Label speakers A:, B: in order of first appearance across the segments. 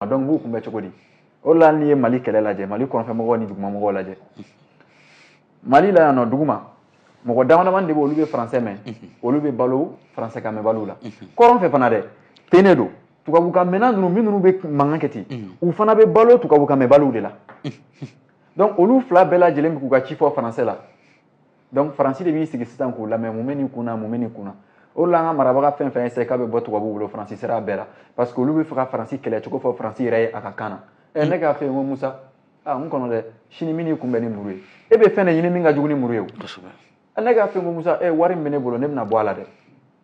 A: a donc b'u kunbɛn cogo di o la n'i ye mali kɛlɛ lajɛ mali kɔrɔnfɛmɔgɔw ni dugumamɔgɔw lajɛ mali la yan nɔ duguma mɔgɔ damadamanin de bɛ olu bɛ faransɛ mɛn olu bɛ balo faransɛkan mɛnbaliw la kɔrɔn fɛ fana dɛ ten de don tubabukan mɛnna ninnu minnu bɛ mankan kɛ ten u fana bɛ balo tubabukan mɛnbaliw de la donc olu fila bɛɛ lajɛlen bɛ k'u ka ci fɔ faransɛ la donc faransi de b'i sigi sisan k'u lamɛn mun bɛ nin kun na mun bɛ nin kun na o la an ka marabaga fɛn fɛn essaye k'a bɛ bɔ tubabuw bolo faransi sera a bɛɛ la parce que olu bɛ fɛ ka faransi kɛlɛ cogo fɔ faransi yɛrɛ ye a ka kan na ɛ ne k'a f'e ye ko musa aa n kɔnɔ dɛ sini n bɛn'i kunbɛn ni muru ye e bɛ fɛn de ɲini min ka jugu ni muru ye o ɛ ne k'a f'e ye ko musa ɛ wari min bɛ ne bolo ne bɛna bɔ a la dɛ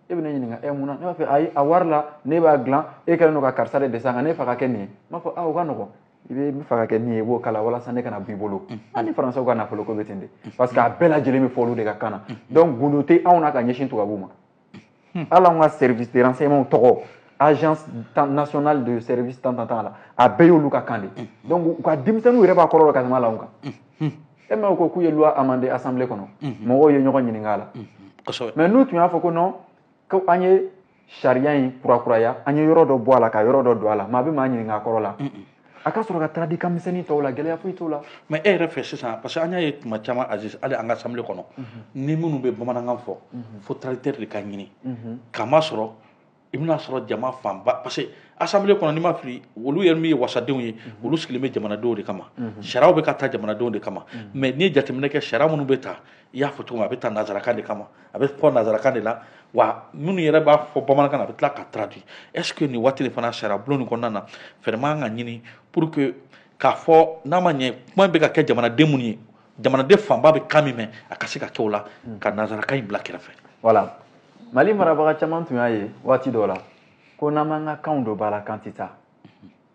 A: e bɛ ne ɲininka ɛ mun na ne b'a fɛ ayi a wari la ne b'a dilan e kɛlen don ka karisa de dɛsɛ a kan ne fa ka kɛ nin ye n b'a fɔ aa o ka nɔgɔn i b'a fɛ ka kɛ min ye i b'o k'a la walasa ne kana b'i bolo an ni faransɛw ka nafolo ko bɛ ten de parce que a bɛɛ lajɛlen bɛ fɔ olu de ka kan na donc gundo tɛ anw na ka ɲɛsin tubabuw ma hali anw ka service de renseignement tɔgɔ agence nationale de service tan tan tan la a bɛɛ y'olu ka kan de donc u ka denmisɛnninw yɛrɛ b'a kɔrɔ dɔn ka tɛmɛ a la anw kan e m'a ko k'u ye loi amendée assemblée kɔnɔ mɔgɔw ye ɲɔgɔn ɲininka a la mais n'u tun y'a fɔ ko non ko an ye sariya in kurakuraya an ye yɔrɔ dɔ bɔ a la ka yɔrɔ dɔ don a la maa bɛ maa ɲininka a kɔrɔ la a ka sɔrɔ ka traduit kan misɛnnin tɔw la gɛlɛya foyi t'o la mais e yɛrɛ fɛ sisan
B: parce que an y'a ye tuma caman aziz hali an ka assemblée kɔnɔ ni minnu bɛ bamanankan fɔ fo traducteur de ka ɲini k'a masɔrɔ i bɛna sɔrɔ jama fanba parce que assemblée kɔnɔ ni n ma fili olu yɛrɛ min ye wasadenw ye olu sigilen bɛ jamanadenw de kama sariyaw bɛ ka ta jamanadenw de kama mais n'i ye jateminɛ kɛ sariya minnu bɛ ta i y'a fɔ cogo min a bɛ ta nanzarakan de kama a bɛ fɔ nazarakan de la wa minnu yɛrɛ b'a fɔ bamanankan na a bɛ tila ka traduit est ce que nin waati de fana sariya bulon nin kɔnɔna na fɛɛrɛ man ka ɲini pour que k'a fɔ n'a ma ɲɛ kuma bɛ ka kɛ jamanaden minnu ye jamanaden fanba bɛ kan min mɛn a ka se ka kɛ o la hmm. ka nazarakan in bila kɛrɛfɛ
A: voilà mali marabaga caman tun y'a ye waati dɔ la ko n'an m'an ka kanw don ba la k'an tɛ taa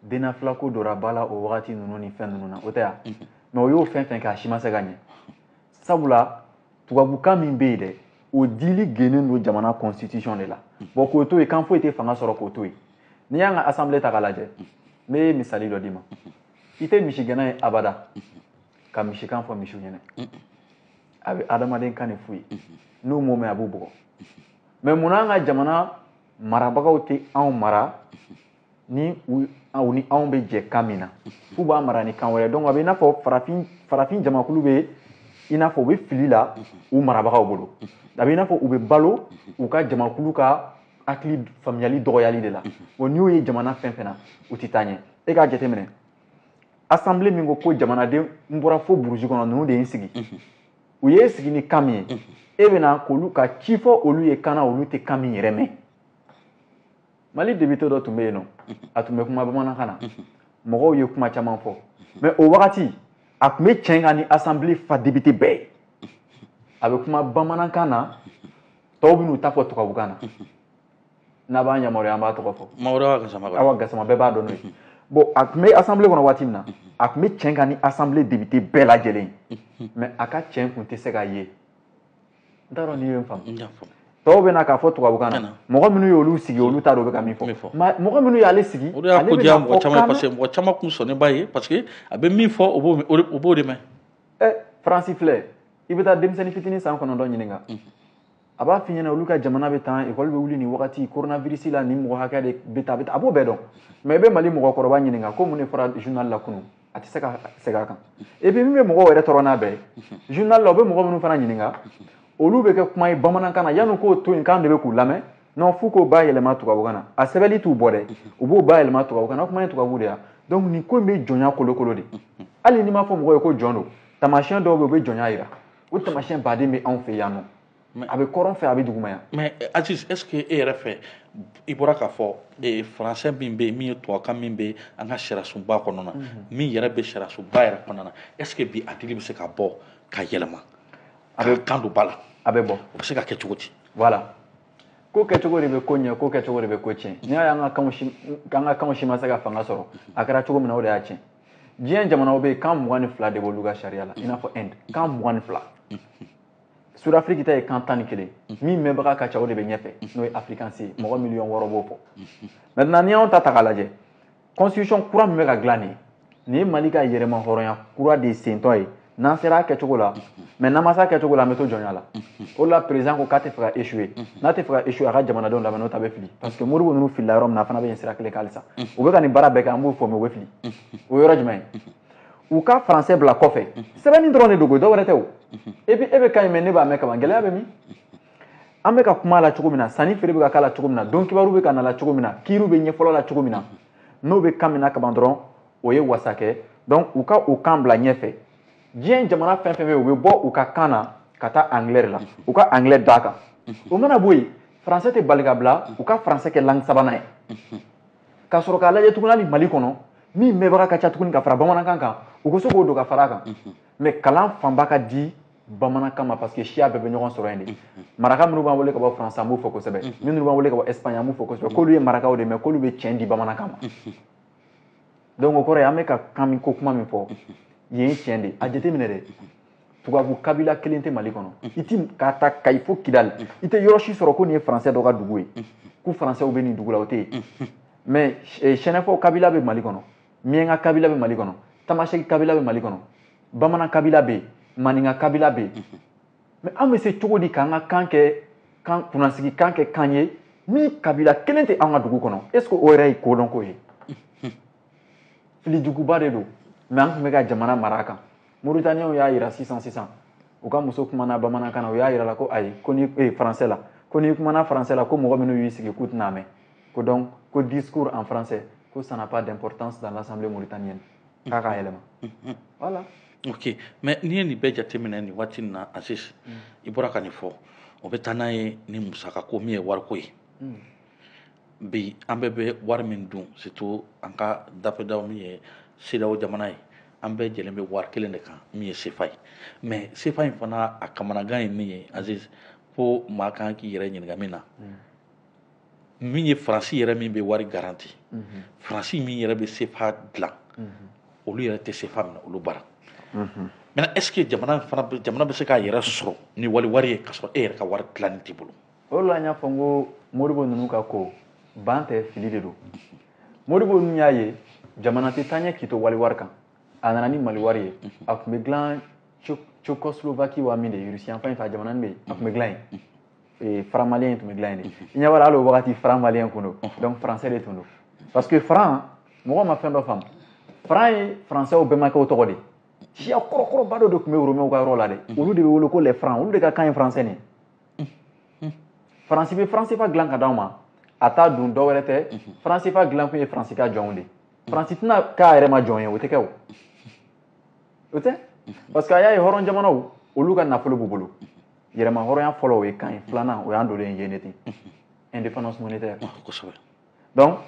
A: dnafla ko donna ba la o wagati ninnu ni fɛn ninnu na o tɛ yan mais o y'o fɛn fɛn kɛ a si ma se ka ɲɛ sabula tubabukan min bɛ yen dɛ o dili gennen don jamana constitution de la bon k'o to yen kan foyi tɛ fanga sɔrɔ k'o to yen n'i y'an ka assemblée ta k'a lajɛ n bɛ misali dɔ d'i ma i tɛ misigɛnna ye abada ka misikan fɔ misiw ɲɛna a bɛ adamaden kan de f'u ye n'u m'o mɛn a b'u bugɔ mais mun n'an ka jamana marabagaw tɛ anw mara ni u ni anw bɛ jɛ kan min na f'u b'a mara ni kan wɛrɛ donc a bɛ i n'a fɔ farafin farafin jamakulu bɛ i n'a fɔ u bɛ fili la u marabagaw bolo a bɛ i n'a fɔ u bɛ balo u ka jamakulu ka hakili faamuyali dɔgɔyali de la bon n'i y'o ye jamana fɛn fɛn na u tɛ taa ɲɛ e k'a jateminɛ assemblée min ko ko jamanaden n bɔra fo burusi kɔnɔ ninnu de ye n sigi u y'e sigi ni kan min ye e bɛ na k'olu ka ci fɔ olu ye kan na olu tɛ kan min yɛrɛ mɛn mali député dɔ tun bɛ yen nɔ a tun bɛ kuma bamanankan na mɔgɔw ye kuma caman fɔ mais o wagati a tun bɛ cɛn kan ni assemblée fa député bɛɛ ye a bɛ kuma bamanankan na tɔw bɛ n'u ta fɔ tubabukan na n'a b'an yamaruya an b'a tɔgɔ fɔ awa gasama bɛɛ b'a dɔn n'o ye bon a tun bɛ assemblée kɔnɔ waati min na a tun bɛ cɛn kan ni assemblée député bɛɛ lajɛlen mais a ka cɛn tun tɛ se ka ye n t'a dɔn n'i ye n faamu tɔw bɛ na k'a fɔ tubabukan na mɔgɔ minnu y'olu sigi olu t'a dɔn u bɛ ka min fɔ mɔgɔ minnu y'ale sigi o de y'a ko diya mɔgɔ caman
B: ye parce que mɔgɔ caman kun sɔnnen b'a ye parce que a bɛ min fɔ o b'o o b'o de mɛn ɛ
A: faransi filɛ i bɛ taa denmisɛnnin fitinin san kɔnɔntɔn ɲininka a b'a f'i ɲɛna olu ka jamana bɛ tan ekɔli bɛ wuli nin wagati coronavirus la nin mɔgɔ hakɛ de bɛ taa a bɛ taa a b'o bɛɛ dɔn mais i bɛ mali mɔgɔkɔrɔba ɲininka ko mun de fɔra journal la kunun a tɛ se ka segin a kan et puis min bɛ mɔgɔw yɛrɛ tɔɔrɔ n'a bɛɛ ye journal la u bɛ mɔgɔ minnu fana ɲininka olu bɛ kɛ kuma ye bamanankan na yanni k'o to yen k'an de bɛ k'u lamɛn non f'u k'o bayɛlɛma tubabukan na a sɛbɛnni t'u bɔ dɛ u b'o bayɛlɛma tubabukan na o kuma ye tubabu de ya donc nin ko in bɛ jɔnya kolokolo de hali n'i m'a fɔ mɔgɔ ye ko jɔn don taamasiyɛn dɔw bɛ yen u bɛ jɔnya jira o taamasiyɛnba de bɛ anw fɛ yan nɔ mais a bɛ kɔrɔn fɛ a bɛ duguma yan mais eh, aziz est
B: ce que e yɛrɛ fɛ i bɔra k'a fɔ eh, français min bɛ yen min ye tubabukan min bɛ an ka sariyasunba kɔnɔ na mhm. min yɛrɛ bɛ sariyasunba yɛrɛ kɔnɔ na est ce que bi a dili bɛ se ka bɔ ka yɛlɛma a bɛ kan don ba la a bɛ bɔ o bɛ se
A: ka kɛ cogo
B: di
A: voilà ko kɛcogo de bɛ ko ɲɛ ko kɛcogo de bɛ ko tiɲɛ n'i y'a ye an ka kanw si an ka kanw si ma se ka fanga sɔrɔ a kɛra cogo min na o de y'a tiɲɛ diɲɛ jamanaw bɛ yen kan mugan ni fila de b'olu ka sariya la i n'a fɔ inde kan mugan ni fila sudafiriki ta ye kan tan ni kelen min mɛnbaga ka ca o de bɛ ɲɛfɛ n'o ye afirikansi ye mɔgɔ miliyɔn wɔɔrɔ b'o fɔ maintenant n'i y'anw ta ta k'a lajɛ constitution kura min bɛ ka dilan nin ye nin ye mali ka yɛrɛmahɔrɔnya kura de sentɔ ye n'an sera a kɛcogo la mais n'an ma se a kɛcogo la an bɛ to jɔnya la o de la président ko k'a tɛ fɛ ka échouer n'a tɛ fɛ ka échouer a ka jamanadenw lamɛn n'o t'a bɛ fili parce que modibo ninnu filila yɔrɔ min na a fana bɛ yen sira kelen kan halisa u bɛ ka nin baara bɛɛ kɛ an b'u fo mais u bɛ fili o yɔrɔ jumɛn ye u ka faransɛ bila kɔfɛ sɛbɛnni dɔrɔn de don ko dɔ wɛrɛ tɛ o e bɛ e bɛ kan in mɛn ne b'a mɛn kaban gɛlɛya bɛ min an bɛ ka kuma la cogo min na sanni feere bɛ ka k'a la cogo min na don kibaru bɛ ka na la cogo min na kiiriw bɛ ɲɛfɔlɔ la cogo min na n'o bɛ kan min na kaban dɔrɔn o ye wasa kɛ donc u ka o kan bila ɲɛfɛ diɲɛ jamana fɛn fɛn bɛ yen u bɛ bɔ u ka kan na ka taa anglais de la u ka anglais d'a kan o mana bɔ yen faransɛ tɛ bali ka bila u ka faransɛ kɛ langue sabanan ye ka sɔrɔ k'a lajɛ tuguni hali mali kɔnɔ min mɛnbaga ka ca tuguni ka fara bamanankan kan u ko se k'o don ka fara a kan mais mhm. kalan fanba ka di bamanankan ma parce que siya bɛɛ bɛ ɲɔgɔn sɔrɔ yen de mhm. maraka minnu b'an wele ka bɔ france an b'u fo kosɛbɛ mhm. minnu b'an wele ka bɔ espagne an b'u fo kosɛbɛ k'olu ye marakaw de mais k'olu bɛ tiɲɛ di bamanankan ma donc o kɔrɔ ye an bɛ ka kan min ko kuma min fɔ ye tiɲɛ de a jateminɛ dɛ tubabu kabila kelen tɛ mali kɔnɔ i ti k'a ta kayi fo kidali i tɛ yɔrɔ si sɔrɔ ko nin ye faransɛ dɔ ka dugu ye ko faransɛw bɛ nin dugu la o tɛ yen mɛ sɛnɛfɔw eh, kabila bɛ mali kɔnɔ miɲɛnka kabila bɛ mali kɔnɔ tamasɛki kabila bɛ mali kɔnɔ bamanan kabila bɛ yen maninka kabila bɛ yen mɛ an bɛ se cogo di k'an ka kan kɛ kan kunnasigi kan kɛ kan ye min kabila kelen tɛ an ka dugu kɔnɔ est ce que o yɛrɛ ye kodɔnko ye fili juguba de don mɛ an tun bɛ ka jamana mara a kan Mauritaniens y'a yira sisan sisan u ka muso kumana bamanankan na u y'a yira la ko ayi ko ni eh, français la ko n'i kumana français la ko mɔgɔ minnu y'i sigi k'u tɛn'a mɛn ko donc ko discours en français ko ça n'a pas d'importance dans l'assemblée mauritanienne k'a k'a yɛlɛma mm-hmm. voilà
B: ok mais n'i ye nin bɛɛ jateminɛ nin waati nin na Aziz mm. i bɔra ka nin fɔ o bɛ taa n'a ye ni musaka ko min ye wariko ye mm. bi an bɛɛ bɛ wari min dun surtout an ka dafɛdaw min ye CEDEAO jamana ye an bɛɛ jɛlen bɛ wari kelen de kan min ye sefa ye mais sefa in fana a kamanagan ye min ye Aziz ko maa kan k'i yɛrɛ ɲininka min na min ye faransi yɛrɛ min bɛ wari garanti faransi min yɛrɛ bɛ sefa dilan olu yɛrɛ tɛ sefa minɛ olu bara mɛ est ce que jamana bɛ se k'a yɛrɛ sɔrɔ ni wali wari ye ka sɔrɔ e yɛrɛ ka wari dilanni t'i bolo o de la n y'a fɔ n
A: ko modibo ninnu ka ko ban tɛ fili de don modibo ninnu y'a ye jamana tɛ taa ɲɛ k'i to wali wari kan a nana ni mali wari ye a tun bɛ dilan Tchécoslovaquie wa min de ye Russie yanfan in fɛ a jamana nin bɛ yen a tun bɛ dilan yen eh, franc malien tun bɛ dilan yen de i ɲɛ b'a la hali o wagati franc malien tun don donc français de tun don parce que franc mɔgɔw ma fɛn dɔ faamu franc ye français bɛnbakɛw tɔgɔ de ye siya kɔrɔkɔrɔba dɔ de tun bɛ Romains ka yɔrɔ la dɛ olu de bɛ wele ko les francs olu de ka kan ye français nin ye faransi bɛ franc CFA dilan k'a d'anw ma a t'a dun dɔ wɛrɛ tɛ franc CFA dilan kun ye faransi ka jɔnw de faransi tɛna k'a yɛrɛ ma jɔn ye o tɛ kɛ o o tɛ parce que a y'a ye hɔrɔn jamanaw olu ka nafolo b'u bolo yɛrɛmahɔrɔnya fɔlɔ o ye kan ye filanan o y'an donlen yen de ten indépendance monétaire kosɛbɛ donc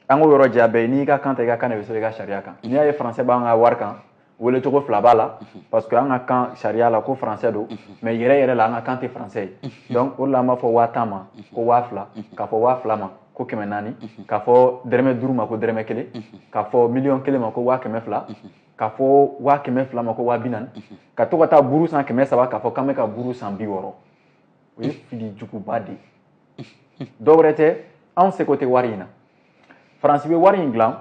A: an k'o yɔrɔ jɛya bɛɛ n'i ka kan ta i ka kan de bɛ sɛbɛn i ka sariya kan n'i y'a ye faransɛ b'an ka wari kan wele cogo fila b'a la mhm. parce que an ka kan sariya la ko faransɛ don mhm. mais yɛrɛ yɛrɛ la an ka kan tɛ faransɛ ye mhm. donc o de la an b'a fɔ waa tan ma ko waa fila k'a fɔ waa fila ma ko kɛmɛ naani k'a fɔ dɛrɛmɛ duuru ma ko dɛrɛmɛ kelen k'a fɔ miliyɔn kelen ma ko waa kɛmɛ fila k'a fɔ waa kɛmɛ fila ma ko waa bi naani ka to ka taa buru san kɛmɛ saba k'a fɔ k'an bɛ ka buru san bi wɔɔrɔ o ye fili juguba de ye dɔ wɛrɛ tɛ anw seko tɛ wari in na faransi bɛ wari in dilan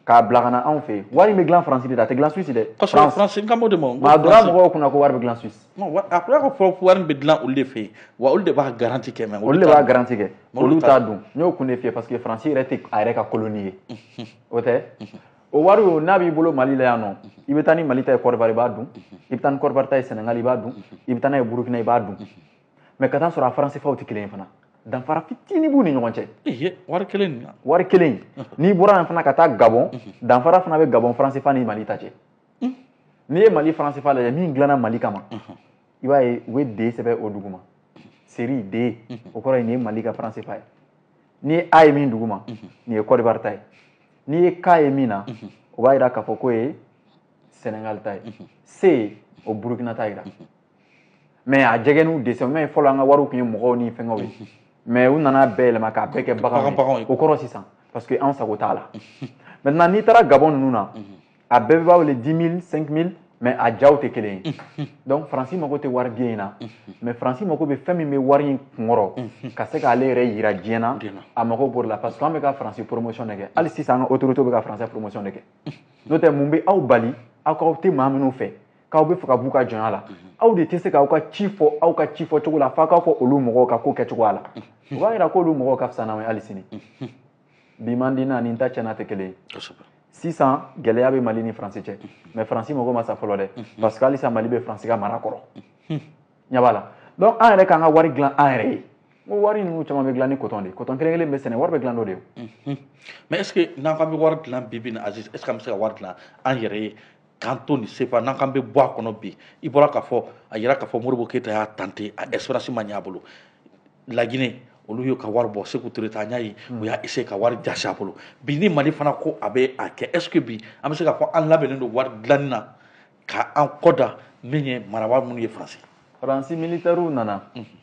A: k'a bila ka na anw fɛ yen wari in bɛ dilan faransi de la a tɛ dilan suisse dɛ kosɛbɛ faransi n kan b'o de ma
B: nka a donna mɔgɔw kunna
A: ko wari bɛ dilan suisse a kɔrɔ k'a
B: fɔ ko wari bɛ dilan olu de fɛ yen wa olu de b'a garanti kɛ mɛ olu de b'a garanti kɛ
A: olu t'a dun n y'o kun de f'i ye parce que faransi yɛrɛ tɛ a yɛrɛ ka koloni ye o tɛ o wari o n'a b'i bolo mali la yan nɔ i bɛ taa ni mali ta ye kɔdiwari i b'a dun i bɛ taa ni kɔdiwari ta ye sɛnɛgali i b'a dun i bɛ taa n'a ye burukina i b'a dun mais ka taa sɔrɔ a franc cfaw tɛ kelen ye fana danfara fitinin b'u ni ɲɔgɔn cɛ wari kelen
B: wari kelen
A: n'i bɔra yan fana ka taa gabɔn danfara fana bɛ gabɔn franc cfa ni mali ta cɛ n'i ye mali franc cfa lajɛ min dilanna mali kama i b'a ye u bɛ d sɛbɛn o duguma série d o kɔrɔ ye nin ye mali ka franc cfa ye n'i ye a ye min duguma nin ye kɔdiwari ta ye n'i ye k ye min na o b'a jira k'a fɔ k'o ye sɛnɛgali ta ye c o burukina ta jira mais a jɛgɛ n'u dessin mais fɔlɔ an ka wariw tun ye mɔgɔw ni fɛnkɛw ye mais u nana bɛɛ yɛlɛma k'a bɛɛ kɛ baganw ye o kɔrɔ sisan parce que an sago t'a la maintenant n'i taara gabɔn ninnu na a bɛɛ bɛ b'a wele dix mille cinq mille mais a jaw tɛ kelen ye donc faransi mago tɛ wari billet in na mais faransi mago bɛ fɛn min bɛ wari in kunkɔrɔ ka se k'ale yɛrɛ yira diɲɛ na a mago b'o la parce que an bɛ ka faransi promotion de kɛ hali sisan an ka autorité bɛ ka faransi promotion de kɛ n'o tɛ mun bɛ aw bali aw k'aw tɛ maa minnu fɛ k'aw bɛ fɛ ka b'u ka jɔnya la aw de tɛ se k'aw ka ci fɔ aw ka ci fɔ cogo la f'aw k'a fɔ olu mɔgɔw ka ko kɛcogoya la o b'a jira k'olu mɔgɔw ka fisa n'aw ye hali sini bi man di n'a ni n ta tiɲɛna tɛ kelen sisan gɛlɛya bɛ mali ni faransi cɛ mais faransi mago ma sa fɔlɔ dɛ parce que halisa mali bɛ faransi ka mara kɔrɔ ɲɛ b'a la donc an yɛrɛ k'an ka wari dilan an yɛrɛ ye n ko wari ninnu caman bɛ dilan ni coton de ye coton kelen kelen bɛ sɛnɛ wari bɛ dilan n'o de ye mais est ce que
B: n'an k'an bɛ wari dilan bi bi in na aziz est ce que an bɛ se ka wari dilan an yɛrɛ ye k'an to nin cfa n'an k'an bɛ bɔ a kɔnɔ bi i bɔra k'a fɔ a yira k'a fɔ modibo keyita y'a tenter a expérience ma ɲɛ a bolo laginɛ olu y'u ka wari bɔ seku ture ta an y'a ye u y'a essayer ka wari jasi a bolo bi ni mali fana ko a bɛ a kɛ est ce que bi an bɛ se k'a fɔ an labɛnnen don wari dilanni na k'an kɔ da min ye marabaa minnu ye faransi faransi
A: militɛriw nana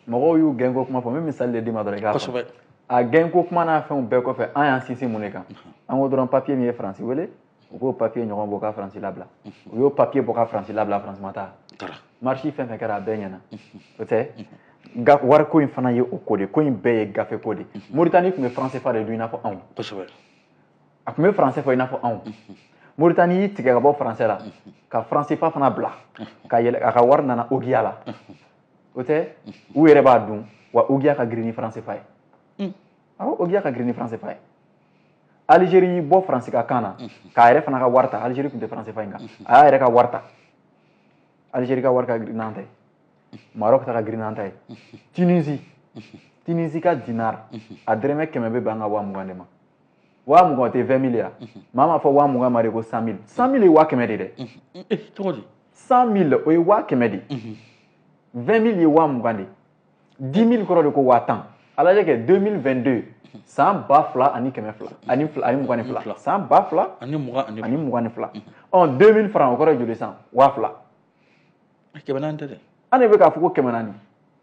A: mɔgɔw y'u gɛnko kuma fɔ n bɛ misali de d'i ma dɔrɔn i k'a kosɛbɛ a gɛnko kuma n'a fɛnw bɛɛ kɔfɛ an y'an sinsin mun de kan an ko dɔrɔn papiye min ye faransi wele u k'o papiye ɲɔgɔn bɔ ka faransi labila u y'o papiye bɔ ka faransi labila faransi ma taa marche fɛn fɛn kɛra a bɛɛ ɲɛna o tɛ wariko in fana ye o ko de ko in bɛɛ ye gafe ko de moritani tun bɛ franc cfa de dun i n'a fɔ anw a tun bɛ français fɔ i n'a fɔ anw moritani y'i tigɛ ka bɔ français la ka franc cfa fana bila ka yɛlɛ a ka wari nana ogiya la o tɛ u yɛrɛ b'a dun wa ogiya ka girin ni franc cfa ye awɔ ogiya ka girin ni franc cfa ye alizeri y'i bɔ faransi ka kan na k'a yɛrɛ fana ka wari ta alizeri tun tɛ franc cfa in kan a y'a yɛrɛ ka wari ta alizeri ka wari ka girin n'an ta ye marɔk ta ka girin n'an ta ye tunisi tunisi ka dinar a dɔrɔmɛ kɛmɛ bɛ bɛn an ka waa mugan de ma waa mugan o tɛ vingt mille ye maa m'a fɔ waa mugan ma de ko cent mille cent mille ye waa kɛmɛ de ye dɛ cent
B: mille o ye
A: waa kɛmɛ de ye vingt mille ye waa mugan de ye dix mille kɔrɔ de ko waa tan a lajɛ kɛ deux mille vingt deux san ba fila ani kɛmɛ fila ani fila ani mugan ni fila san ba fila ani mugan ani ani mugan ni fila ɔ deux mille franc o kɔrɔ ye joli san waa fila
B: kɛmɛ naani tɛ dɛ an de bɛ k'a fɔ
A: ko kɛmɛ naani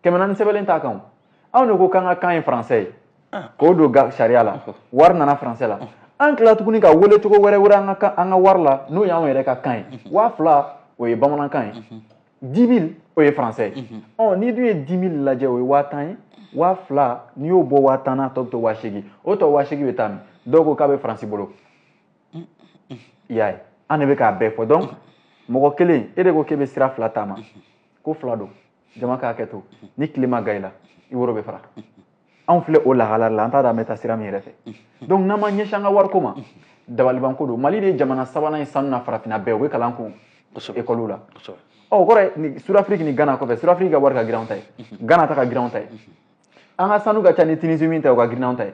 A: kɛmɛ naani sɛbɛnlen t'a kan o anw de ko k'an ka kan ye français ye ah. k'o don sariya la wari nana français la an tila tuguni k'a wele cogo wɛrɛ wɛrɛ an ka an ka wari la n'o y'anw yɛrɛ ka kan ye waa fila o ye bamanankan ye dix mille o ye français ye mhm. ɔ n'i dun ye dix mille lajɛ o ye waa tan ye waa fila n'i y'o bɔ waa tan na tɔ bɛ to waa seegin o tɔ waa seegin bɛ taa min dɔw ko k'a bɛ faransi bolo mm, mm. i y'a ye an de bɛ k'a bɛɛ fɔ donc mɔgɔ kelen e de ko k'e bɛ sira fila taama mhm. ko fila don jama k'a kɛ to ni tile ma gan i la i woro bɛ fara anw filɛ o lahala la an t'a dɔn an bɛ taa sira min yɛrɛ fɛ donc n'an ma ɲɛsin an ka wariko ma dabalibanko don mali de ye jamana sabanan ye sanu na farafinna bɛɛ u bɛ kalan an kun ekɔli la ɔ o kɔrɔ ye sud-afrique ni ghana kɔfɛ sud-afrique ka wari ka girin anw ta ye ghana ta ka girin anw ta ye an ka sanu ka ca ni tunisi min ta ye o ka girin anw ta ye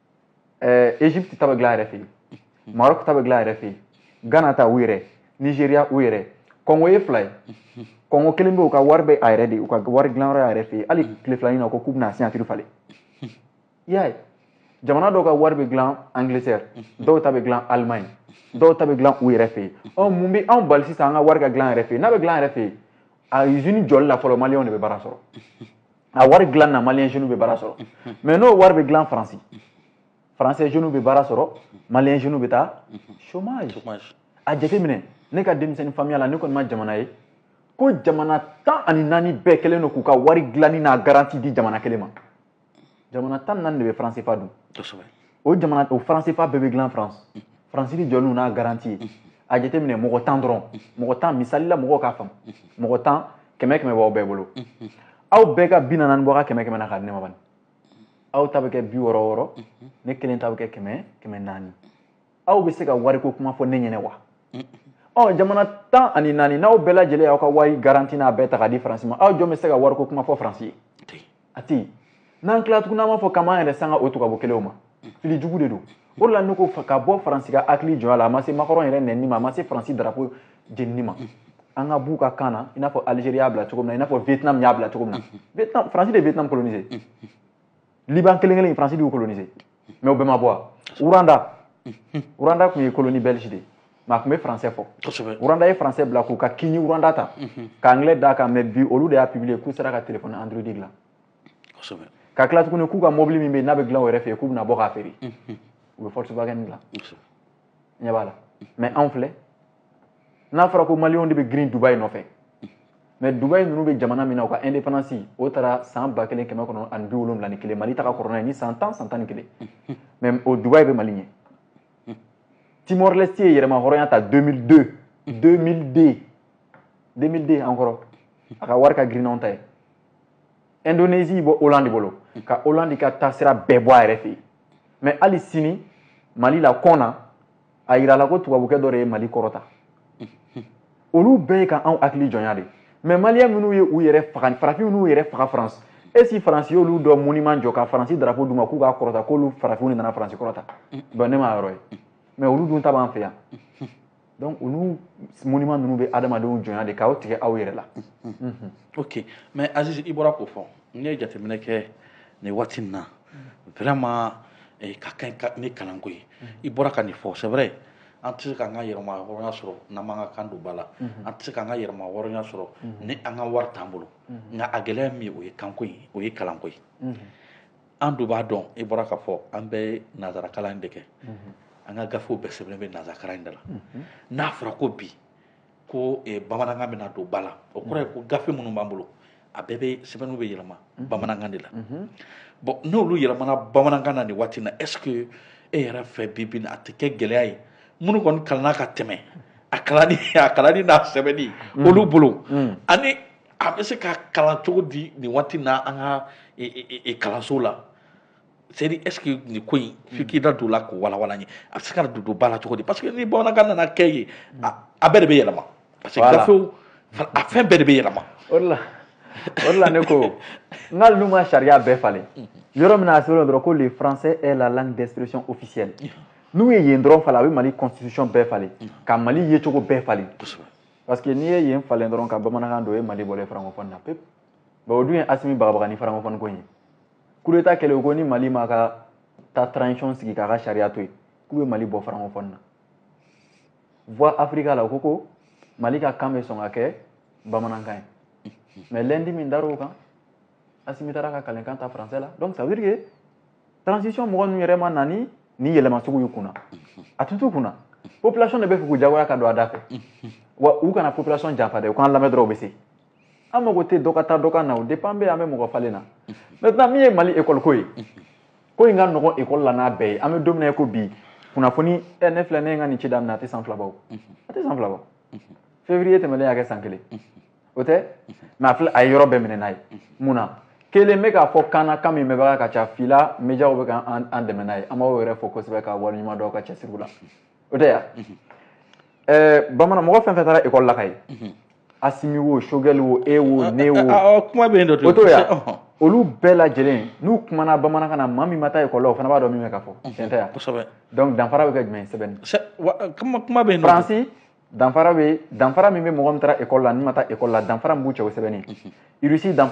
A: égypte ta bɛ dilan a yɛrɛ fɛ yen maroc ta bɛ dilan a yɛrɛ fɛ yen ghana ta u yɛrɛ nigeria u yɛrɛ kɔngo ye fila ye kɔngo kelen bɛ u ka wari bɛ a yɛrɛ de u ka wari dilanyɔrɔ y'a yɛrɛ fɛ yen hali tile fila in na ko k'u bɛna signature falen i y'a ye jamana dɔw ka wari bɛ dilan angleterre dɔw ta bɛ dilan allemagne dɔw ta bɛ dilan u yɛrɛ fɛ yen ɔ mun bɛ anw bali sisan an ka wari ka dilan an yɛrɛ fɛ yen n'a bɛ dilan an yɛrɛ fɛ yen a usine jɔli la fɔlɔ maliyɛnw de bɛ baara sɔrɔ a wari dilan na maliyɛn jeunes bɛ baara sɔrɔ mais n'o wari bɛ dilan faransi français jeunes bɛ baara sɔrɔ maliyɛn jeunes bɛ taa chômage a jateminɛ ne ka denmisɛnnin faamuya la ne kɔni ma jamana ye ko jamana tan ani naani bɛɛ kɛlen don k'u ka wari dilanni n'a garanti di jamana kelen ma jamana tan ni naani de bɛ franc cfa dun o jamana o franc cfa bɛɛ bɛ dilan faransi faransi de jɔlen n'a garanti ye a jateminɛ mɔgɔ tan dɔrɔn mɔgɔ tan misali la mɔgɔw k'a faamu mɔgɔ tan kɛmɛ kɛmɛ b'aw bɛɛ bolo aw bɛɛ ka bi naani bɔ aw ka kɛmɛ kɛmɛ na k'a di ne ma bani aw ta bɛ kɛ bi wɔɔrɔ wɔɔrɔ ne kelen ta bɛ kɛ kɛmɛ kɛmɛ naani aw bɛ se ka wariko kuma fɔ ne ɲɛna wa ɔ jamana tan ani naani n'aw bɛɛ lajɛlen y'aw ka wari garanti n'a bɛɛ ta k'a di faransi ma aw jɔn bɛ se ka wariko kuma fɔ faransi ye a tɛ yen n'an tila tuguni an b'a fɔ k'an b'an yɛrɛ sanga o tubabu kelenw ma fili jugu de don o de la ne ko ka bɔ faransi ka hakili jɔnya la a ma se macron yɛrɛ nɛni ma a ma se faransi darapo jenini ma an ka b'u ka kan na i n'a fɔ algérie y'a bila cogo min na i n'a fɔ vietnam y'a bila cogo min na faransi de ye vietnam coloniser liban kelen kelen faransi de y'u coloniser mais o bɛɛ ma bɔ a rwanda rwanda tun ye colonie belge de mais a tun bɛ français fɔ rwanda ye français bila k'u ka kinyarwanda ta ka anglais d'a kan mais bi olu de y'a publier k'u sera ka telefɔni android dilan ka tila tuguni k'u ka mobili min bɛ n'a bɛ dilan u yɛrɛ fɛ yen k'u bɛna bɔ k'a feere u bɛ volkswagen dilan ɲɛ b'a la mais anw filɛ n'a fɔra ko maliyɛnw de bɛ girin dubayi nɔfɛ mais dubayi ninnu bɛ jamana min na u ka indépendance o tara san ba kelen kɛmɛ kɔnɔ ani bi wolonwula ni kelen mali ta ka kɔrɔ n'a ye ni san tan san tan ni kelen mais o dubayi bɛ mali ɲɛ timor leste ye yɛrɛma hɔrɔnya ta 2002 2002 2002 encore a ka wari ka girin n'anw ta ye Indonésie bɔ Hollande bolo mm. ka Hollande ka taasira bɛɛ bɔ a yɛrɛ fɛ yen mais hali sini Mali la kɔn na a yirala ko tubabukɛ dɔ de ye Mali kɔrɔta mm. olu bɛɛ ye ka anw hakili jɔnya de mais maliyɛn minnu ye u yɛrɛ faga farafin minnu y'u yɛrɛ faga France est ce que faransi y'olu dɔ monument jɔ ka faransi drapeau d'u ma k'u k'a kɔrɔta k'olu farafinw de nana faransi kɔrɔta mm. bon ne m'a yɔrɔ ye mais olu dun ta b'an fɛ yan donc olu monument ninnu bɛ adamadenw jɔnya de k'aw tigɛ aw yɛrɛ la
B: ok mais aziz i bɔra k'o fɔ n'i ye jateminɛ kɛ nin waati nin na vraiment eh, ka kan ni kalanko ye i bɔra ka nin fɔ c'est vrai an tɛ se k'an ka yɛrɛma hɔrɔnya sɔrɔ n'an m'an ka kan don ba la an tɛ se k'an ka yɛrɛma hɔrɔnya sɔrɔ ni an ka wari t'an bolo nka a gɛlɛya min ye o ye kanko ye o ye kalanko ye an dun b'a dɔn i bɔra k'a fɔ an bɛɛ ye nanzarakalan in de kɛ mhm. an ka gafew bɛɛ sɛbɛnnen bɛ nanzarakalan in de la mhm. n'a fɔra ko bi ko eh, bamanankan bɛna don ba la o kɔrɔ ye ko gafe minnu b'an bolo a bɛɛ bɛ sɛbɛnniw bɛ yɛlɛma mhm. bamanankan de la bon n'olu yɛlɛmana bamanankan na nin waati na est ce que e yɛrɛ fɛ bi bi a tɛ kɛ gɛlɛya ye minnu kɔni kalanna ka tɛmɛ a kalanni a kalanni n'a sɛbɛnni olu bolo ani a bɛ se ka kalan cogo di nin waati na an ka e, e, e, kalanso la c'est à dire est ce que nin ko in f'i k'i da don o la k'o walawala n ye a bɛ se ka don don ba la cogo di parce que ni bamanankan nana kɛ yen a bɛɛ de bɛ yɛlɛma parce que gafew a fɛn bɛɛ de bɛ yɛlɛma o de
A: la o de la ne ko nka ninnu ma sariya bɛɛ falen yɔrɔ min na a sɛbɛnnen dɔrɔn ko le français est la langue d'expression officielle n'u ye yen dɔrɔn falen a bɛ mali constitution bɛɛ falen ka mali yecogo bɛɛ falen parce que n'i ye yen falen dɔrɔn ka bamanankan don o ye mali bɔlen francophonie na pewu bon o dun ye asimi bagabaga ni francophonie ko in ye kudeta kɛlen o ko ni mali ma ka ta transition sigi k'a ka sariya to yen k'u bɛ mali bɔ francophonie na voix afrika la o ko ko mali ka kan bɛ sɔn ka kɛ bamanankan ye mais lundi min dar'o kan asimi taara ka kalenkan ta français la donc ça veut dire que transition mɔgɔ ninnu yɛrɛ ma na ni nin yɛlɛma sugu y'u kunna a tun t'u kunna population de bɛ fɛ k'u jagoya ka don a da fɛ wa u kana population janfa dɛ u k'an lamɛn dɔrɔn u bɛ se an mago tɛ dɔ ka taa dɔ ka na o dépend bɛ an bɛ mɔgɔ falen na maintenant min ye mali école ko ye ko in ka nɔgɔn école la n'a bɛɛ ye an bɛ don min na ko bi kunnafoni ɛ ne filɛ ne ye n ka nin ci daminɛ a tɛ san fila bɔ a tɛ san fila bɔ février tɛmɛlen y'a kɛ san kelen o tɛ mɛ a filɛ a ye yɔrɔ bɛɛ minɛ n'a ye mun na kelen bɛ k'a fɔ kan na kan min mɛnbaga ka ca fila mediyaw bɛ ka an dɛmɛ n'a ye an b'aw yɛrɛ fo kosɛbɛ ka waleɲuman dɔn aw ka cɛsiriw la o tɛ yan ɛɛ bamanan mɔgɔ fɛn fɛn taara ekɔli la ka ye asimi wo sogɛli wo e wo ne wo kuma bɛ yen dɔ o
B: t'o
A: yan olu bɛɛ lajɛlen n'u kumana bamanankan na maa min ma taa ekɔli la o fana b'a dɔn min bɛ ka fɔ tiɲɛ tɛ yan kosɛbɛ donc danfara
B: bɛ kɛ jumɛn
A: ye sɛbɛnni
B: kuma bɛ yen faransi
A: danfara bɛ danfara min bɛ mɔgɔ min taara ekɔli la ni ma taa ekɔli la danfara min b'u cɛ o sɛbɛnni irisi danfara